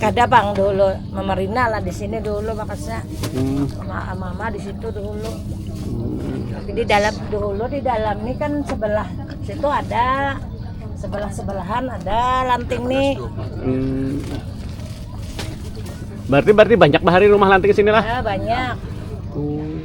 Kada bang dulu memerina lah di sini dulu makasnya hmm. mama, mama di situ dulu. Hmm. Tapi di dalam dulu di dalam ini kan sebelah situ ada sebelah sebelahan ada lanting nih. Hmm. Berarti berarti banyak bahari rumah lanting sini lah. Ya, banyak. Hmm.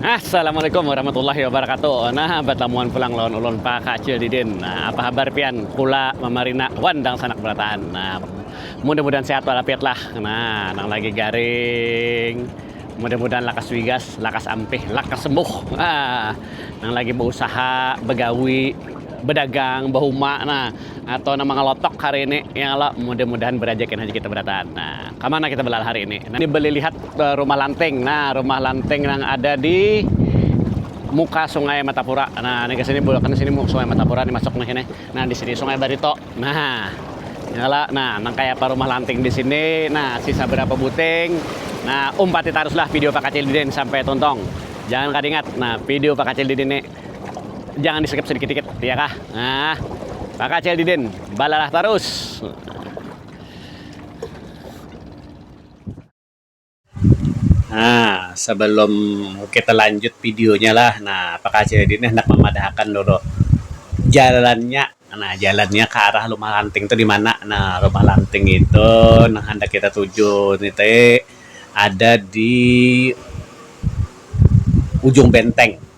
Assalamualaikum warahmatullahi wabarakatuh. Nah, batamuan pulang lawan ulun Pak Kacil Didin. Nah, apa habar pian? Kula Mamarina wan dangsanak barataan. Nah, mudah-mudahan sehat walafiat lah. Nah, nang lagi garing mudah-mudahan lakas wigas, lakas ampih, lakas sembuh. Ah, nang lagi bausaha, bagawi, bedagang, bahuma. Nah, atau nama ngelotok hari ini ya Allah mudah-mudahan berajakin aja kita berataan nah kemana kita belal hari ini nah, ini beli lihat eh, rumah lanting nah rumah lanting yang ada di muka sungai Matapura nah ini ke sini bukan sini sungai Matapura ini masuk nih ini nah di sini sungai Barito nah Nyala, nah, nang kayak apa rumah lanting di sini, nah, sisa berapa buting, nah, umpati taruslah video Pak Kacil Didin sampai tuntung. Jangan kadingat, nah, video Pak Kacil Didin ini. Jangan di skip sedikit-dikit, ya kah? Nah, Pak Kacil Didin, balalah tarus. Nah, sebelum kita lanjut videonya lah, nah Pak Kacil Didin nih hendak memadahakan dulu jalannya, nah jalannya ke arah rumah lanting itu di mana? Nah, rumah lanting itu nah hendak kita tuju nite ada di ujung benteng.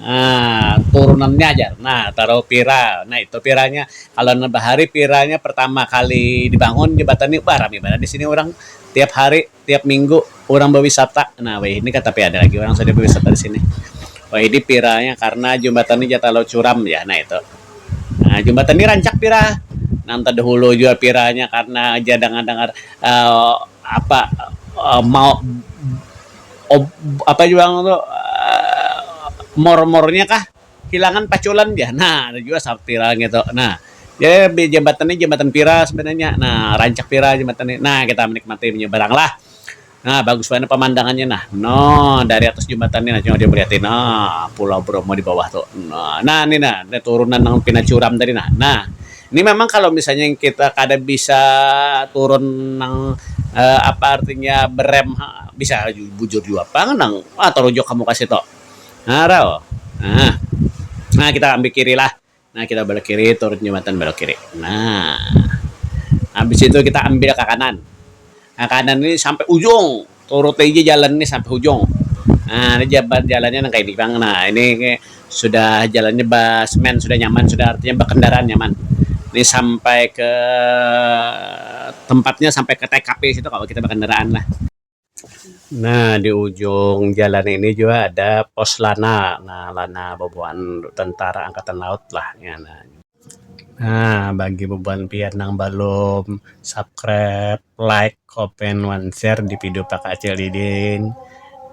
Nah, turunannya jar. Nah, taruh pira. Nah, itu piranya. Kalau nah bahari piranya pertama kali dibangun jembatan ni, bah rami banar di sini urang. Tiap hari, tiap minggu urang bawisata. Nah, wayahini kah tapi ada lagi urang sudah bawisata di sini. Wayahini piranya karena jembatan ni ja talau curam jar. Nah, itu. Nah, jembatan ni rancak pira. Nang tadahulu jua piranya karena ja dangar-dangar. apa mau apa jua ngaran tuh mor-mornya kah hilangan paculan jar nah ada jua sapira ngitu nah jadi jambatan nih jambatan pira sebenarnya nah rancak pira jambatan nih nah kita manikmati inya barang lah nah bagus banar pamandangannya nah no dari atas jambatan nih coba kita lihat no pulau Bromo di bawah tuh nah ni nah turunan nang pina curam tadi nah. Ini memang kalo misalnya kita kada bisa turun nang apa artinya berem bisa bujur jua pang nang ha tarujok ka muka situ ha rau nah kita ambil kiri lah nah kita belok kiri turun jembatan belok kiri nah habis itu kita ambil ka kanan ka kanan ni sampai ujung. Turut aja jalan nih sampai hujung. Nah, ini jalannya nang kaini pang. Nah, ini sudah jalannya ba semen, sudah nyaman, sudah artinya bakandaraan nyaman. Ini sampai ke tempatnya sampai ke tkp situ kawa kita bakandaraan lah. Nah, di ujung jalan ini jua ada pos Lana. Nah, Lana babuhan tentara angkatan laut lah. Nah bagi bubuhan pian nang balum subscribe, like, komen, wan share di video Pak Acil Didin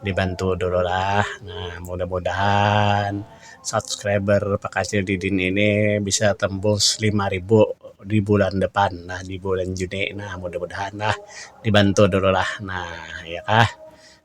dibantu dulu lah. Nah mudah-mudahan subscriber Pak Acil Didin ini bisa tembus lima ribu di bulan depan nah di bulan Juni. Nah mudah-mudahan lah dibantu dulu lah nah ya kah.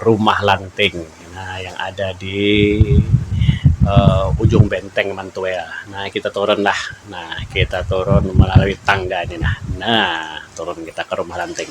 rumah lanting nah yang ada di ujung benteng mantuil nah kita turun lah nah kita turun melalui tangga ni nah nah turun kita ke rumah lanting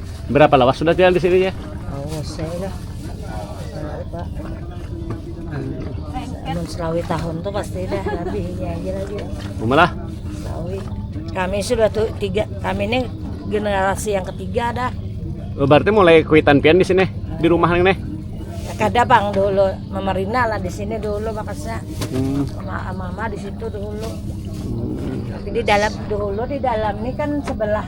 Berapa lawas sudah tinggal di sini ya? Oh, saya lah. Pak. Amun selawi tahun tuh pasti dah lebih ini aja lagi. Umalah? Selawi. Kami sudah tuh tiga, kami ini generasi yang ketiga dah. Oh, berarti mulai kuitan pian di sini, di rumah nih nih? Ya, kada bang dulu, memerina lah di sini dulu makasnya. Hmm. Mama, mama di situ dulu. Hmm. Tapi di dalam dulu di dalam ini kan sebelah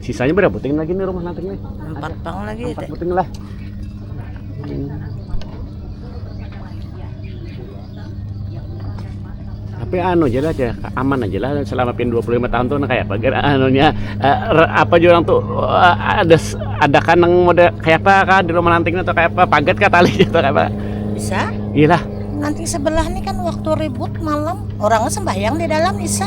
Sisanya berapa puting lagi nih rumah nanti nih? Empat pang lagi. Empat puting lah. tapi anu aja lah aja aman aja lah selama pin 25 tahun tuh nah, kayak apa gara anunya uh, apa juga orang tuh uh, ada ada kan yang mode kayak apa kah di rumah nanti atau kayak apa paget kah tali atau kayak apa bisa iya lah nanti sebelah nih kan waktu ribut malam orangnya sembahyang di dalam bisa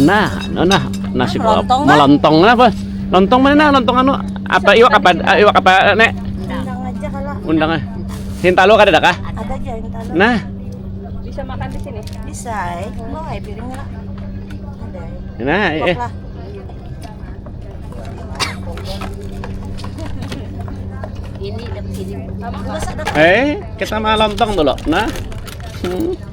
Nah, nah, nah nasi lontong kan? lontong apa? Lontong mana nah lontong anu? Apa iwak apa eh, iwak apa eh, nek? Undang aja kalau. Undang eh. Hintalu kada ada kah? Ada aja hintalu. Nah. Bisa makan di sini? Bisa. Eh. Mau air piring lah. Ada. Eh. Nah, eh. Ini Eh, kita mah lontong dulu. Nah. Hmm.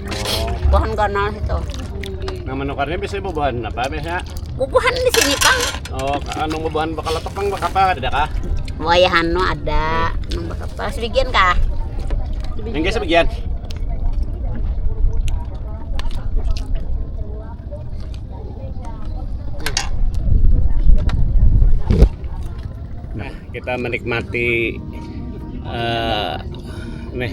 Oh. Bubuhan ganal itu. Nah menukarnya bisa bubuhan apa biasanya? Bubuhan di sini pang. Oh, anu bubuhan bakal letok pang bakal apa tidak kah? Wayah anu ada, hmm. anu bakal apa sebagian kah? Enggak sebagian. Nah, kita menikmati uh, nih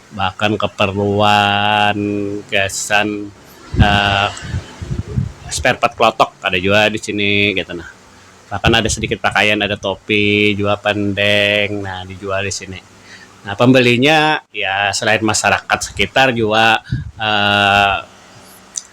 bahkan keperluan gasan um spare part klotok ada jua di sini kaitu nah bahkan ada sedikit pakaian ada topi jua pandeng nah dijual di sini nah pembelinya ya selain masyarakat sekitar jua um.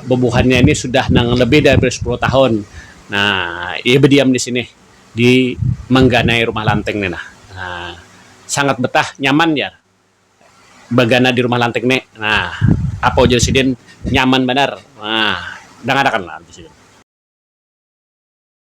Bubuhannya ini sudah nang lebih dari sepuluh tahun iya badiam di sini di mangganai rumah lanting ni nah sangat betah nyaman jar bagana di rumah lanting ni nah apa ujar sidin nyaman banar nah dangarakan lah ujar sidin.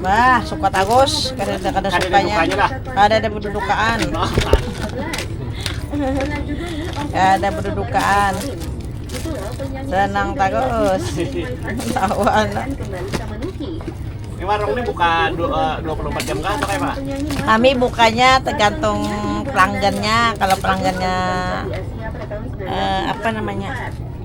Bah, suka tagus. Kada ada kada sukanya. Kada ada berdudukaan. Kada ada berdudukaan. Senang tagus. Tahu anak. Ini warung ini buka 24 eh, jam kah atau kayak Kami bukanya tergantung pelanggannya. Kalau pelanggannya eh, apa namanya?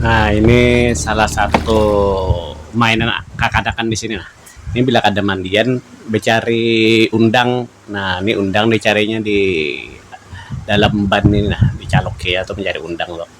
Nah, ini salah satu mainan kakanakan di sini nah. Ini bila kada mandian becari undang. Nah, ini undang dicarinya di dalam ban ini nah, dicaluk kaya tu mencari undang tu.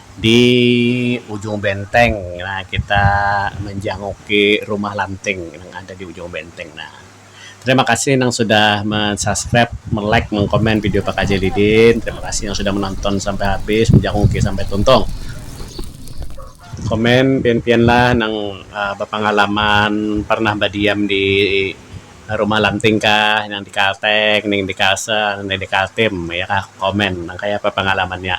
Di ujung benteng nah kita manjanguki rumah lanting nang ada di ujung benteng nah. Terima kasih nang sudah men-subscribe, me-like, mengkomen video Pakaji Lidin. Terima kasih yang sudah menonton sampai habis, menjanguki sampai tuntung. Komen pian-pianlah nang bapangalaman parnah badiam di rumah lanting kah, nang di kalteng, nang di kalsel, nang di kaltim ya kah komen nang kaya apa pangalamannya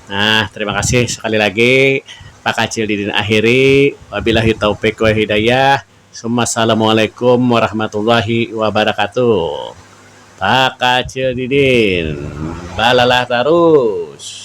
nah terima kasih sekali lagi pak kacil didin akhiri wabilahi taufik wal hidayah summa assalamualaikum warahmatullahi wabarakatuh pak kacil didin balalah tarus.